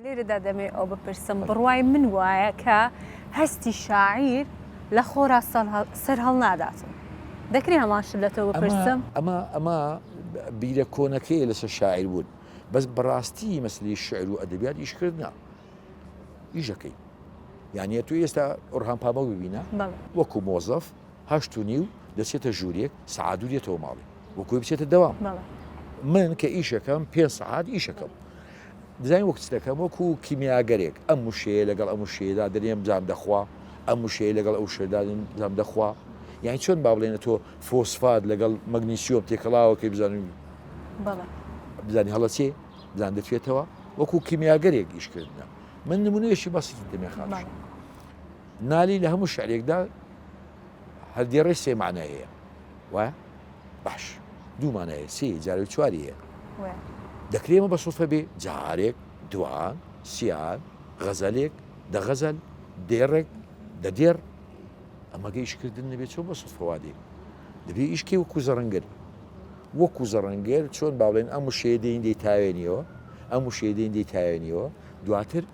لێرەدا دەمەوێت ئەوە بپرسم، بڕوای من وایە کە هەستی شاعیر لە خۆرا سەرهەڵنادات و دەکرێ هەمان شت لە تۆ بپرسم؟ ئەمە ئەمە بیرە کۆنەکەیە لەسەر شاعیر بوون، بەس بەڕاستی مەسەلەی شیعر و ئەدەبیات ئیشکردنە، ئیشەکەی. یانە تۆ ئێستا ئۆرهان پامەک ببینە وەکو مۆزەف، هەشت و نیو دەچێتە ژووریێک سەعات دوو دێتەوە ماڵێ وەکۆی بچێتە دەوام من کە ئیشەکەم پێ سەعات ئیشەکەم دزای وەکتەکەم وەکو کیمیاگەرێک ئەم وشەیە لەگەڵ ئەم وشەیەدا دەرێم جام دەخوا ئەم وشەیە لەگەڵ ئەو شێدادن جام دەخوا یان چۆن با بڵێنە تۆ فۆسفات لەگەڵ مەگنیسیۆم تێکەڵاوەکەی بزانین بزانانی هەڵە چێ بزان دەتوێتەوە وەکو کیمیاگەرێک ئیشکردە من نمونەیەشی بەسیتی دەمێخان نالی لە هەموو شعرێکدا هەر دێڕێ سێ مانای هەیە وایە باش دوو مانای هەیە سێ جارێک چواری هەیە وێ دەکرێ ئەمە بە سوڵفە بێ جارێک دوان سیان غەزەلێک دە غەزەل دێڕێک دە دێڕ ئەمەگە ئیشکردن نەبێت چۆن بە سوڵفەوا دێ دەبێ ئیشکی وەکو زەڕنگەر وەکو زەڕنگەر چۆن باڵێن ئەم وشەیە دێن دەی تاوێنیەوە ئەم وشەیە دێن دەی تاوێنیەوە دواتر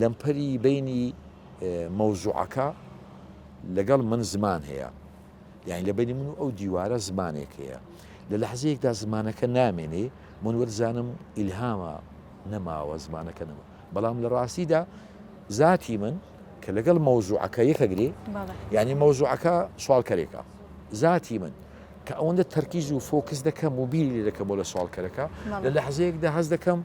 لەمپەری بەینی مەوزوعەکە لەگەڵ من زمان هەیە یعنی لە بینی من و ئەو دیوارە زمانێک هەیە لە لەحزەیەکدا زمانەکە نامێنێ من وەرزانم ئیلهامە نەماوە زمانەکە نەما بەڵام لە ڕاستیدا ذاتی من کە لەگەڵ مەوزوعەکە یەکەگرێ یعنی مەوزوعەکە سوالکەرێکە ذاتی من کە ئەوەندە تەرکیز و فۆکس دەکەم و بیری لێ دەکەم بۆ لە سوالکەرەکە لە لەحزەیەکدا هەز دەکەم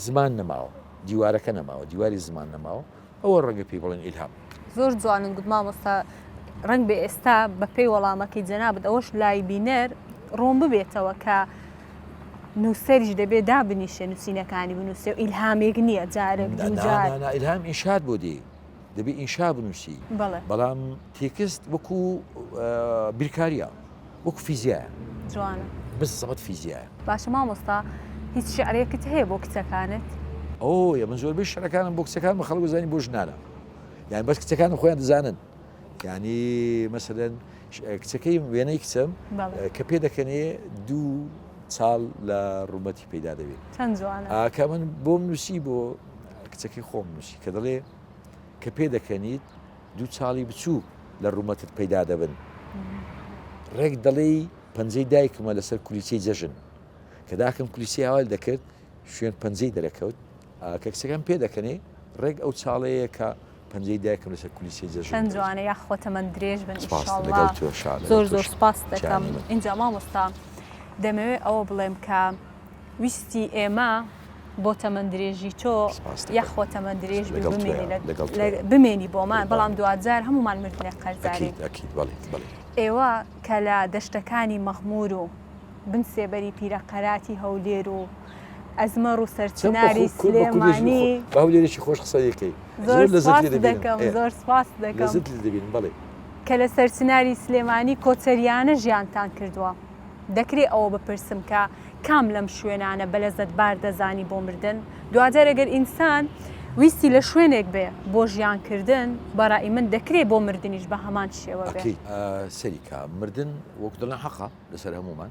زمان نەماوە دیوارەکە نەماوە دیواری زمان نەماوە ئەوە ڕەنگە پێی بڵێن ئیلهام. زۆر جوانن گوت مامۆستا ڕەنگ بێ ئێستا بەپێی وەڵامەکەی جەنابت ئەوەش لای بینەر ڕوون ببێتەوە کە نووسەریش دەبێ دابنیشێ نووسینەکانی بنووسێ و ئیلهامێک نییە جارێک دوو جار. نا نا نا ئیلهام ئینشات بۆ دێ دەبێ ئینشا بنووسی بەڵام تێکست وەکو بیرکاریە وەکو فیزیایە جوانە بس زەبەت فیزیایە باشە مامۆستا هیچ شعرێکت هەیە بۆ کچەکانت ئەو یە من زۆربەی شعرەکانم بۆ کچەکان بە خەڵک زانانی بۆ ژنانە یان بەس کچەکانم خۆیان دەزانن ینی مەسەدەن کچەکەی وێنەی کچم کە پێ دەکەنێ دوو ساڵ لە ڕوومەتی پەیدا دەبێت چەند جوانە ئاکا من بۆم نووسی بۆ کچەکەی خۆم نووسی کە دەڵێ کە پێ دەکەنیت دوو چاڵی بچووک لە ڕوومەتت پەیدا دەبن ڕێک دەڵێ پەنجەی دایکمە لەسەر کولیچەی جەژن کە داکم کولیسی هاوال دەکرد شوێن پەنجەی دەرەکەوت کە کچەکەم پێ دەکەنێ ڕێک ئەو چاڵەیە کە پەنجەی دایکم لەسەر کولیسەی جەژن چەند جوانە یاخوا تەمەن درێژ بن ئیشاڵڵا زۆر زۆر سپاست دەکەم ئینجا مامۆستا دەمەوێت ئەوە بڵێم کە ویستی ئێمە بۆ تەمەن درێژی تۆ یاخوا تەمەن درێژ بمێنی بۆمان بەڵام دوجار هەمومان مردنێک قەرزاری ئێوە کە لە دەشتەکانی مەغمور و بن سێبەری پیرە قەراتی هەولێر و ئەزمەڕ و سەرچناری سلێمانی باولێرێکی خۆش قسەی کەی زۆر دەکەم زۆر سپاس دەکەم دەبین بڵێ کە لە سەرچناری سلێمانی کۆچەریانە ژیانتان کردووە دەکرێ ئەوە بپرسم کە کام لەم شوێنانە بە لە زەتبار دەزانی بۆ مردن دوجار ئەگەر ئینسان ویستی لە شوێنێک بێ بۆ ژیانکردن بەڕی من دەکرێ بۆ مردنیش بە هەمان شێوە سەریکە مردن وەک دڵە حەقا لەسەر هەمومان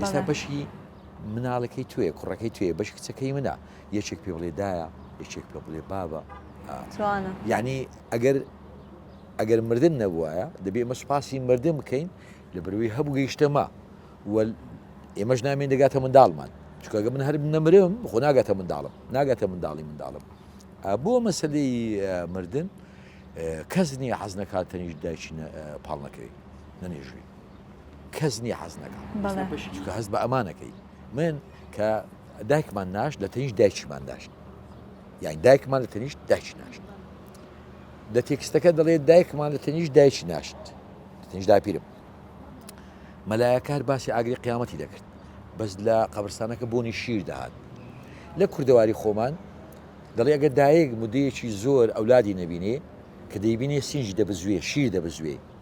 ئێستا بەشی مناڵەکەی توێ کوڕەکەی توێ بەش کچەکەی منە یەکێک پێ بڵێ دایە یەکێک پێ بڵێ بابە یعنی ئەگەر ئەگەر مردن نەبووایە دەبێ ئمە سوپاسی مردن بکەین لە بروی هەبوو گەیشتەما ئێمەش نامێن دەگاتە منداڵمان چکگە من هەر نەمرم خۆ ناگاتە منداڵم ناگاتە منداڵی منداڵم بۆ مەسلەی مردن کەس نییە حەز نەکات تەنیش دایکی پاڵ نەکەوێت نەنێژوی کەس نییە حەز نەکا چکە هەست بە ئەمانەکەی من کە دایکمان ناش لە تەنیش دایکیمان داشت یان دایکمان لە تەنیشت دایکی ناشت لە تێکستەکە دەڵێت دایکمان لە تەنیش دایکی ناشت تەنیش داپیرم مەلایەکار باسی ئاگری قیامەتی دەکرد بەس لە قەبرستانەکە بۆنی شیر دەهات لە کوردەواری خۆمان دەڵێ ئەگەر دایک مدەیەکی زۆر ئەولادی نەبینێ کە دەیبینێ سینجی دەبزوێ شیر دەبزوێ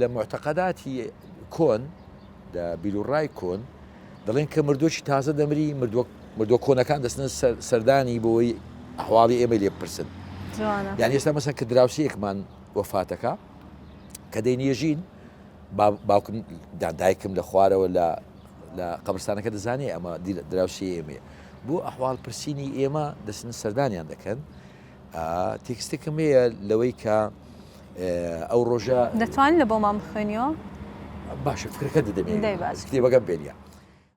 لە موعتەقەداتی کۆن، لە بیروڕای کۆن، دەڵێن کە مردووەکی تازە دەمری، مردووە کۆنەکان دەچنە سەردانی بۆی ئەحواڵی ئێمەی لێ بپرسن. جوانە. یانی ئێستا مەسەن کە دراوسێکمان وەفاتەکە کە دەینێژین باوکم دایکم لە خوارەوە لە لە قەبرستانەکە دەزانێ ئەمە دراوسی ئێمێ بۆ ئەحواڵ پرسیینی ئێمە دەچن سەردانیان دەکەن تێکستێکم هەیە لەوەی کە ئەو ڕۆژە دەتوانین لە بۆمان بخوێنیەوە؟ باشە فکرەکە دەدەمێ کتێبەکەم پێ نیە.